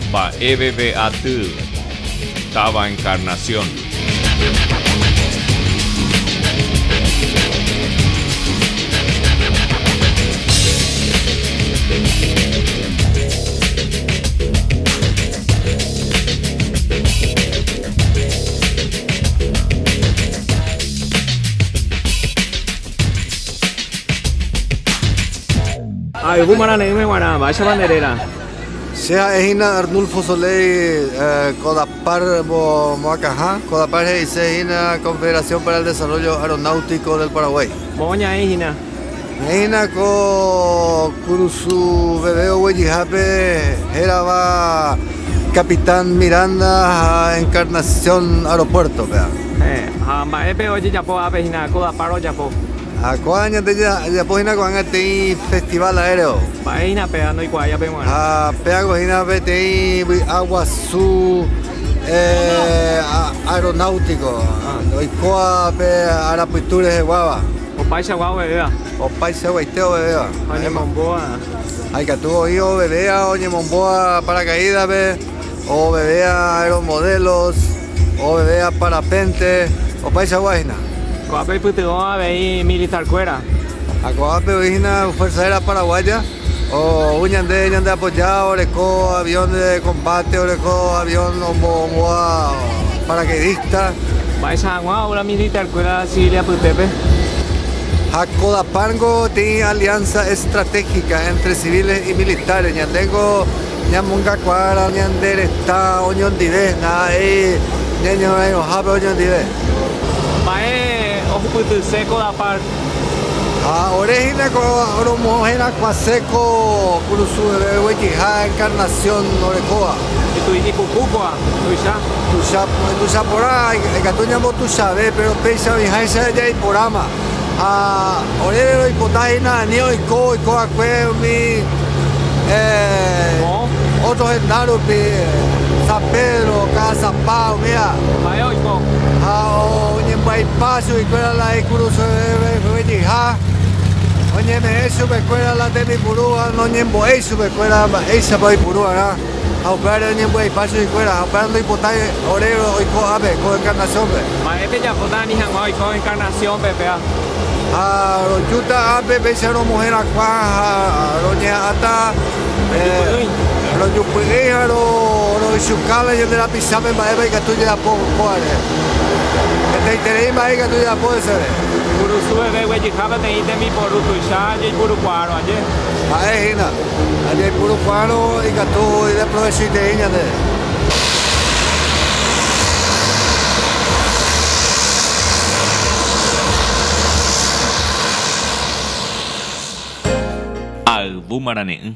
Mba'eveve aty táva Encarnación. Ayvu marane'ỹme g̃uarã, mba'éichapa nde réra? Che ha'e hína Arnulfo Soleil Codapar moakãha. Codapar he'ise hína Confederación para el Desarrollo Aeronáutico del Paraguay. Moõ ñaĩ hína. Ñaĩ hína ko kurusu veve oguejyhápe hérava Capitán Miranda ha Encarnación Aeropuerto-pe. Héẽ, ha mba'épe ojejapo ápe hína, kódapa rojapo? Ha ko'ã ñande jajapo hína ko'ág̃a peteĩ festival aéreo. Mba'e hína péva ndoikuaái ape g̃uarã. Ha péago hína peteĩ vy'a guasu aeronáutico, oikóva pe arapytu reheguáva. Opaichagua ovevéva. Opaichaguaite ovevéva. Ha oñemombóva. Ha ikatu oĩ ovevéva oñemombóva paracaídape, ovevéva aeromodelos. Oveve aparapénte opaichagua hína. Ko'ápe oipytyvõ avei militarkuéra. Ha ko'ápe oĩ hína Fuerza Aérea Paraguaya, ou ñande ñandeapoja oreko avión de combate, oreko avión ombovoa paracaidista. Mba'éicha hag̃ua ou la militarkuéra civil apytépe? Ha ko DAPAR-nko tĩi alianza estratégica entre civiles y militares. Ñande nko. Ñamongakuaára ñande retã oñondive ndaha'éi ñañorãirõhápe oñondive. Mba'e ohupytyse ko Dapar? Ha ore hína ko romoherakuãse ko Kurusueve oguejyha encarnación orekóva. Mitũ'i ipuku kóva, tuicha. Tuicha porã, ikatu ñambotuichave, péro péicha oĩháicha jaiporáma. Ha oréve roipota hína ani oiko oiko va'ekue umi ótro henda rupi, San Pedro, Cajasapa, umíva. Ha'e oiko. Ha oñembya'ipa chupe kuéra la ikuruse veve jeýha, oñeme'ẽ chupe kuéra la tembipurúva, noñembo'éi chupe kuéra mba'éichapa oipuru va'erã. Ha upévare oñembyaipa chuguikuéra, ha upévare ndoipotái ore oiko ápe, ko Encarnación-pe. Mba'e pejapóta ani hag̃ua oiko Encarnación-pe péva? Ha rojúta ápe péicha romoherakuã ha roñeha'ãta rojupy'ỹi ha roychukáta ñande rapichápe mba'épa ikatu jajapo kóvare. Hetaiterei mba'e ikatu jajapo heseve. Kurusu veve guejyha peteĩ tembiporu tuicha jaipurukuaárõ aje. Ha'e hína. Ha jaipurukuaárõ ikatu ideaprovechoitei ñandéve. Ha ayvu marane'ỹ.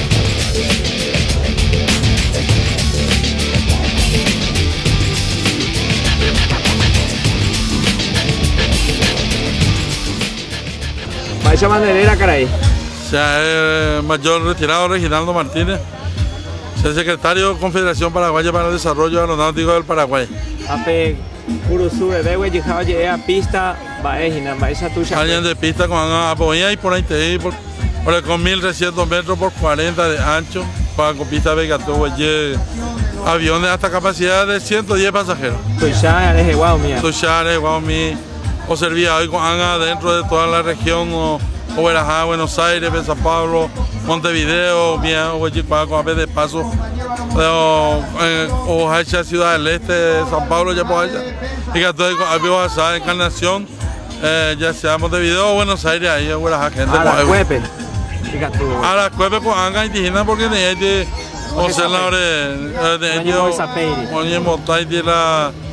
Mba'éicha bandera karai. Se eh, mayor retirado Reginaldo Martínez, se secretario Confederación Paraguaya para el Desarrollo Aeronáutico del Paraguay. Ape Kurusu veve guejyha oje'e apista mba'e hína, mba'éicha tuichakue. Ha ñande pista ko'ág̃a apo'ỹiha iporãitei, oreko mil trescientos métros por cuarenta de ancho, ko'ã ko pístape ikatu oguejy aviones hasta capacidad de ciento diez pasajeros. Tuicha rehegua umíva. Tuicha rehegua umi oservi avei ko'ág̃a dentro de toda la región. Ogueraha Buenos Aires-pe Sao Paulo, Montevideo, umi oguejykuaa ko'ápe de paso ohoháicha Ciudad del Este, Sao Paulo ojapoháicha, ikatu avei ko'ápe ohasa Encarnación, ya sea Montevideo o Buenos Aires ahí ogueraha gente ko'águi. Arakuépe ikatu. Arakuépe ko'ã ag̃aite hína porque ne'ẽiti osẽla ore, ne'ẽiti oñembotáiti la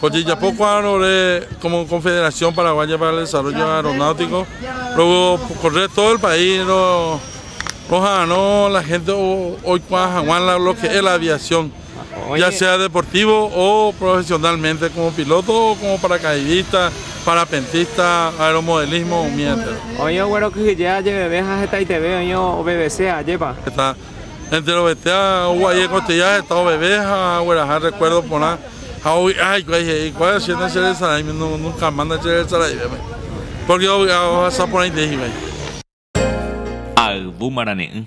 Ko jejapo kuaárõre como Confederación Paraguaya para el Desarrollo Aeronáutico rocorre todo el país roha'arõ la gente oikuaa haguã lo que es la aviación ya sea deportivo o profesionalmente como piloto o como paracaidista, parapentista, aeromodelismo umi entero. Oĩ oguerokyhyje ajeveve ha hetaiteve oĩ ovevese ajépa. enterovetéva ogua'i egoteja heta oveve ha agueraha rrekuérdo porã, ha ovy'a hikuái he'i, Kuára, che nacheresaráime, nunkamá nacheresaraivéma, pórke ovy'a ohasa porãite hikuái. Ayvu marane'ỹ.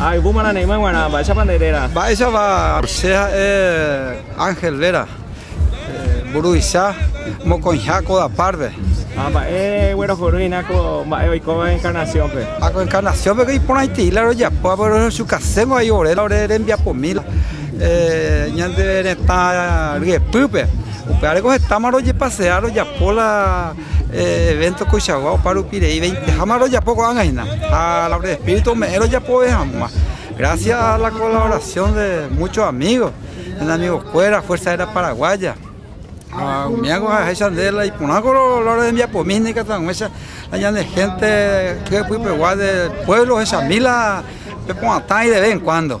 Ha yvúma nane'ỹva g̃uarã, mba'éichapa nde réra? Mba'éichapa, che ha'e Ángel réra, mburuvicha mokõiha ko apárpe. Ha mba'e guerohorýina ko mba'e oikóva Encarnación-pe? Ha ko Encarnación-peko iporãitei la rojapo, ha rojukaséngo vai ore, ore rembiapomíla ñande retã ryepýpe. Upéva reko hetáma rojepasea rojapo la Evento tuichagua opa rupi rei veinteháma rojapo ko'ág̃a hína ha la obra del Espíritu ome'ẽ rojapove hag̃ua gracias a la colaboración de muchos amigos, de amigokuéra Fuerza Aérea Paraguaya ha umíago ha'eháicha nde la iporãko la obra rembiapomi hína ikatuag̃uicha ha ñane hénte ky'epypegua de pueblo ohechami la peporãtãi de vez en cuando.